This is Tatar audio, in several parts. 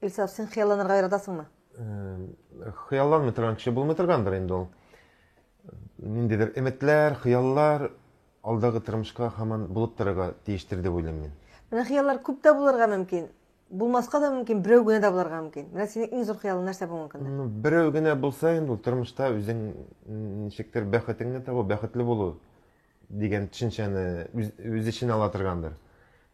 Илсаф, син хыялланырга яратасыңмы? Хыялланмый торган кеше булмый торгандыр инде ул. Ниндидер өметләр, хыяллар алдагы тормышка хаман булып торырга тиештер дип уйлыйм мин. Менә хыяллар күп тә булырга мөмкин. Булмаска да мөмкин, берәү генә дә булырга мөмкин. Менә синең иң зур хыялың нәрсә бүгенге көндә? Ну, берәү генә булса инде ул тормышта үзең ничектер бәхетеңне табу, бәхетле булу. дигән төшенчәне үз, үз эченә ала торгандыр.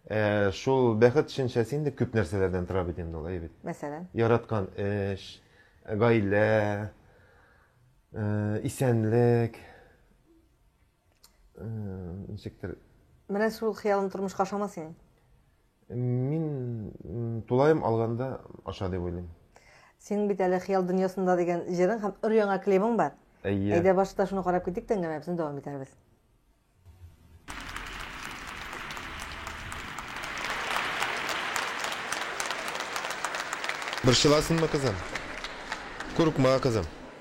Ә, шул бәхет төшенчәсе инде күп нәрсәләрдән тора бит инде ул, әй бит. Мәсәлән? Яраткан эш, гаилә, э, исәнлек, э, ничектер. Менә шул хыялын тормышка ашама синең. Мин тулаем алганда аша дип уйлыйм. Синең бит әле Хыял дөньясында дигән җырың һәм өр яңа клибың бар. Әйе. Әйдә башта шуны карап китик тә әңгәмәбезне дәвам итәрбез. Борчыласыңмы, кызым? Курыкма, кызым.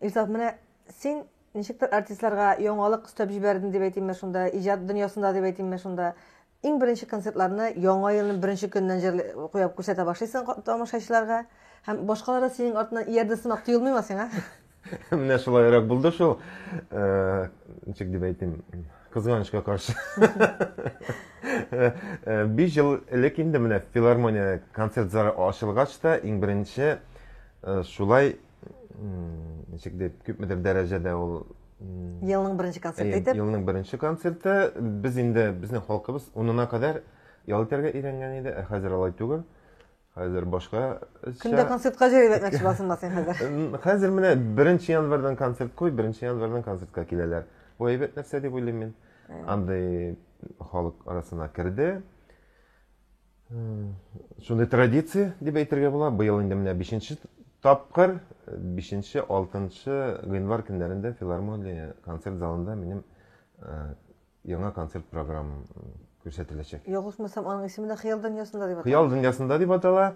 Илсаф, менә син ничектер артистларга яңалык өстәп җибәрдең дип әйтимме шунда, иҗат дөньясында дип әйтимме шунда. Иң беренче концертларны яңа елның беренче көненнән җырлый, куеп күрсәтә башлыйсың ка- тамашачыларга. Һәм башкалар да синең артыңнан иярде сымак тоелмыймы сиңа? Менә шулайрак булды шул. Э, Ничек дип әйтим, кызганычка каршы. Э, э, Биш ел элек инде менә филармония концерт залы ачылгач та иң беренче э, шулай ничек дип күпмедер дәрәҗәдә ул елның беренче концерты итеп елның беренче концерты без инде безнең халкыбыз унына кадәр ял итәргә өйрәнгән иде ә хәзер алай түгел хәзер башка кемдә концертка җәлеп итмәкче буласыңмы син хәзер хәзер менә беренче январьдан концерт куй беренче январьдан концертка киләләр бу әйбәт нәрсә дип уйлыйм мин андый халык арасына керде шундый традиция дип әйтергә була быел инде менә бишенче тапкыр бишенче алтынчы гыйнвар көннәрендә филармония концерт залында минем э, яңа концерт программам күрсәтеләчәк ялгышмасам аның исеме дә хыял дөньясында дип атала хыял дөньясында дип атала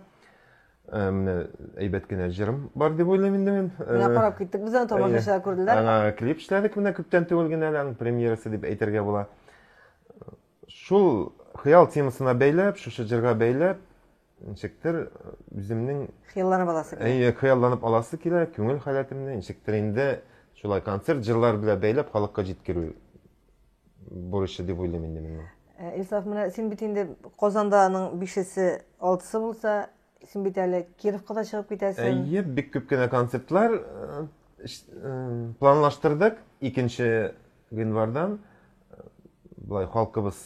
э, менә әйбәт кенә җырым бар дип уйлыйм инде мин э, менә карап киттек без аны тамашачылар күрделәр аңа клип эшләдек менә күптән түгел генә әле аның премьерасы дип әйтергә була Шул хыял темасына бәйләп, шушы җырга бәйләп, ничектер үземнең хыялланып аласы килә. Әйе, хыялланып аласы килә, күңел халәтемне ничектер инде шулай концерт җырлар белән бәйләп халыкка җиткерү бурычы дип уйлыйм инде мин. Э, Илсаф, менә син бит инде Казанда аның бишесе, алтысы булса, син бит әле Кировка да чыгып китәсең. Әйе, бик күп кенә концертлар э, э, планлаштырдык. Икенче Гыйнвардан болай халкыбыз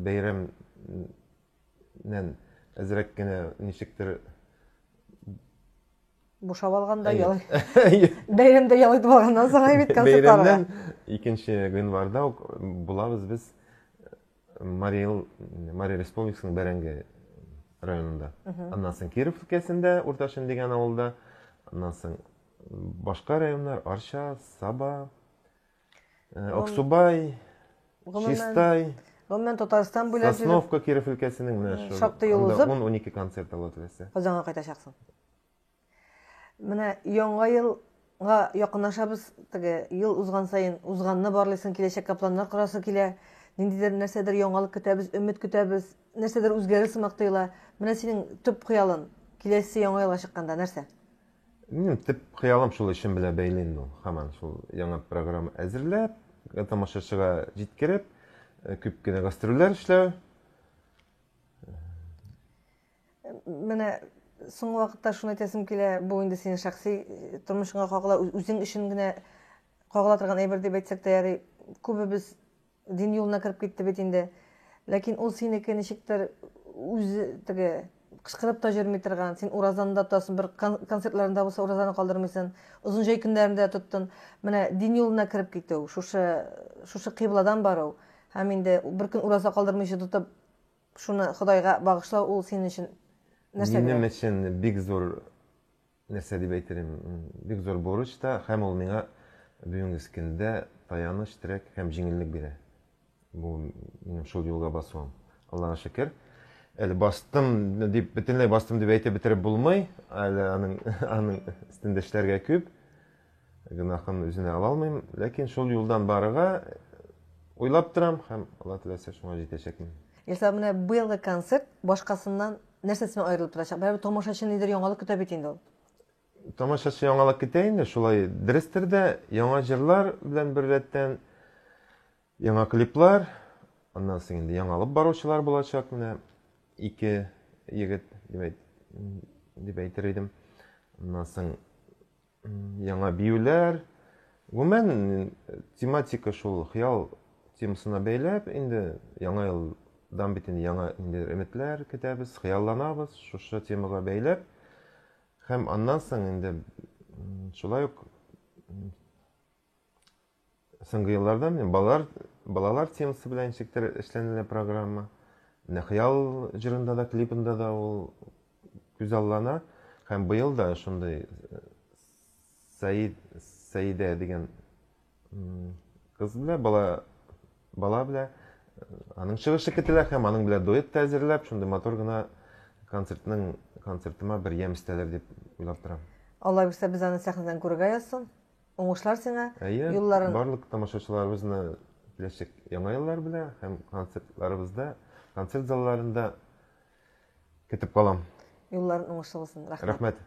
бәйрәмнән әзрәк кенә ничектер бушап алганда ял бәйрәмдә ял итеп алганнан соң бит концертларга бәйрәмнән икенче гыйнварда ук булабыз без Марий Эл Марий Республикасының Бәрәңге районында. Аннан соң Киров өлкәсендә Урташын дигән авылда, аннан соң башка районнар Арча, Саба, Э, Аксубай, Чистай, Гомумән Татарстан буйлап йөреп, Сосновка Киров өлкәсенең менә шул. Шактый юл узып. 10-12 концерт ала теләсә. Казанга кайтачаксың. Менә яңа елга якынлашабыз. Теге ел узган саен узганны барлыйсың, киләчәккә планнар корасы килә. Ниндидер нәрсәдер яңалык көтәбез, өмет көтәбез, нәрсәдер үзгәрер сымак тоела. Менә синең төп хыялың киләсе яңа елга чыкканда нәрсә? Минем төп хыялым шул эшем белән бәйле инде ул. Һаман шул яңа программа әзерләп, э, тамашачыга җиткереп, э, күп кенә гастрольләр эшләү. Менә соңгы вакытта шуны әйтәсем килә, бу инде синең шәхси э, тормышыңа кагыла, үзең өчен генә кагыла торган әйбер дип әйтсәк тә ярый. Күбебез Дин юлына кереп китте бит инде. Ләкин ул синеке ничектер үзе теге кычкырып та җөрми торган. Син уразаны да тотасың, бер концертларында булса уразаны калдырмыйсын. Озын җәй көннәрендә тоттын. Менә дин юлына кереп китү, шушы шушы кыйбладан бару һәм инде бер көн ураза калдырмыйча тотып, шуны Ходайга багышлау ул синең өчен нәрсә? Минем өчен бик зур нәрсә дип әйтерем, бик зур бурыч та, һәм ул миңа бүгенге скендә таяныч, терәк һәм җиңеллек бирә. Бу минем шул юлга басуым. Аллага шөкер. Әле бастым дип, бөтенләй бастым дип әйтеп бетереп булмый. Әле аның аның өстендә эшләргә күп. Гөнаһын үзенә ала алмыйм, ләкин шул юлдан барырга уйлап торам һәм Алла теләсә шуңа җитәчәкмен. Илсам, менә быелгы концерт башкасыннан нәрсәсе белән аерылып торачак? Барыбер тамашачы ниндидер яңалык көтә бит инде ул. Тамашачы яңалык көтә инде, шулай дөрестер дә, яңа җырлар белән беррәттән яңа клиплар, аннан соң инде яңалып баручылар булачак, менә ике егет дип әйтер идем. Аннан соң яңа биюләр. Гомумән, тематика шул хыял темасына бәйләп, инде яңа елдан бит инде яңа инде өметләр көтәбез, хыялланабыз шушы темага бәйләп. Һәм аннан соң инде шулай ук Соңгы елларда менә балалар балалар темасы белән ничектер эшләнелә программа. Менә хыял җырында да, клипында да ул күзаллана. Һәм быел да шундый э, Саид Саидә дигән кыз белән бала бала белән э, аның чыгышы көтелә һәм аның белән дуэт тә әзерләп, шундый матур гына концертның концертыма бер ямь өстәлер дип уйлап торам. Алла бирсә, без аны сәхнәдән күрергә язсын. Уңышлар сиңа. Әйе, юлларын... барлык тамашачыларыбызны киләчәк яңа еллар белән һәм концертларыбызда, концерт залларында көтеп калам. Юлларын уңышлы булсын. Рәхмәт. Рәхмәт.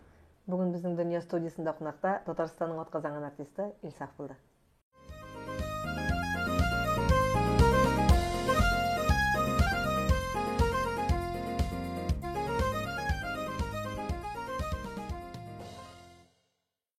Бүген безнең Дөнья студиясендә кунакта Татарстанның атказанган артисты Илсаф булды.